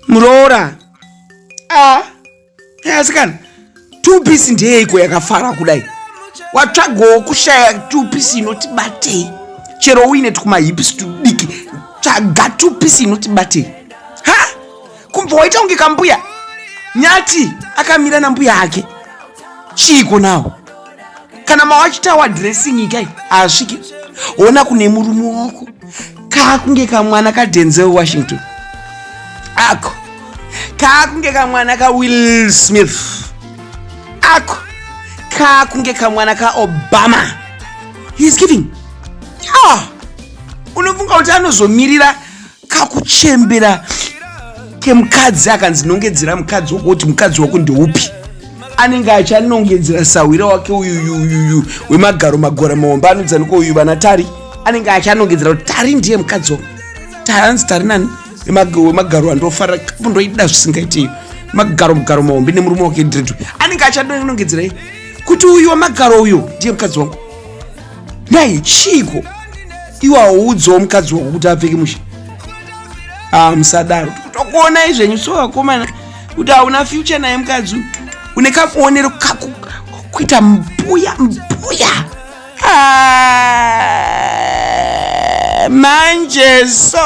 muroora ah, asikana two piece ndeyeiko yakafara kudai watsvagawo kushaya two piece inoti batei chero uine tikumahips tudiki tsvaga two piece inoti batei ha kumbva waita kunge kambuya nyati akamira nambuya ake chiiko nawo kana mawachitawa dressing ikai haasviki hona kune murume wako kaakunge kamwana kadenzel washington ako kaakunge kamwana kawill smith ako kaakunge kamwana kaobama heis giving ya unofunga kuti anozomirira kakuchembera kemukadzi akanzi nongedzera mukadzi wako kuti mukadzi wako ndeupi anenge achanongedzera sahwira wake uyuyuyuyu wemagaro magora maomba anodzanika uyu vana tari anenge achanongedzera kuti tari ndiye mukadzi wako tari anzi tari nani wemagaro andofarira kapu ndoida zvisingaitei magaro mugaro mahombe nemurume wake dredu anenge achadonongedzerei kuti uyu wamagaro uyo ndiye mukadzi wangu Dai chiiko iwe auudzawo mukadzi wako kuti apfeke mushe ah musadaro tokuonai zvenyu so vakomana kuti hauna future naye mukadzi une kakuonero kaku kuita mbuya mbuya ah, manje so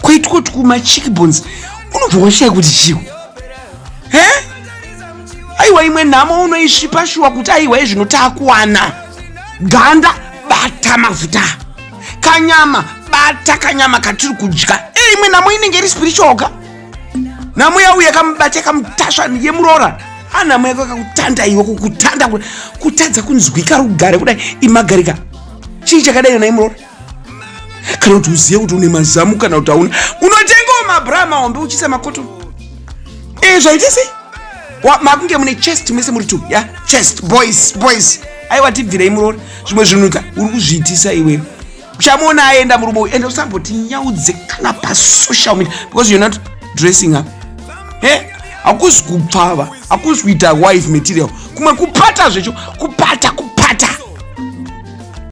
kwaitwa tukuma chickbones unobva washaya kuti chiwo he aiwa imwe nhamo unoisvipa shuwa kuti aiwa izvino takuwana ganda bata mafuta kanyama bata kanyama katiri kudya e imwe nhamo inenge iri spiritual ka nhamo yau yakamubata yakamutasva yemuroora anhamo yako yakakutanda iwe kukutanda kutadza kunzwika rugare kudai imagarika chii chakadai yona imuroora kana kuti uzive kuti une mazamu kana kuti hauna unotengawo mabra mahombe uchiisa makoto e eh, zvaite sei makunge mune chest mese muri two ya chest boys boys aiwa tibvirei muroora zvimwe zvinuka uri kuzviitisa iwewe uchamuona aenda murume uyu ende usamboti nyaudze kana pasocial media because you're not dressing up he hakuzi kupfava hakuzi kuita wife material kumwe kupata zvecho kupata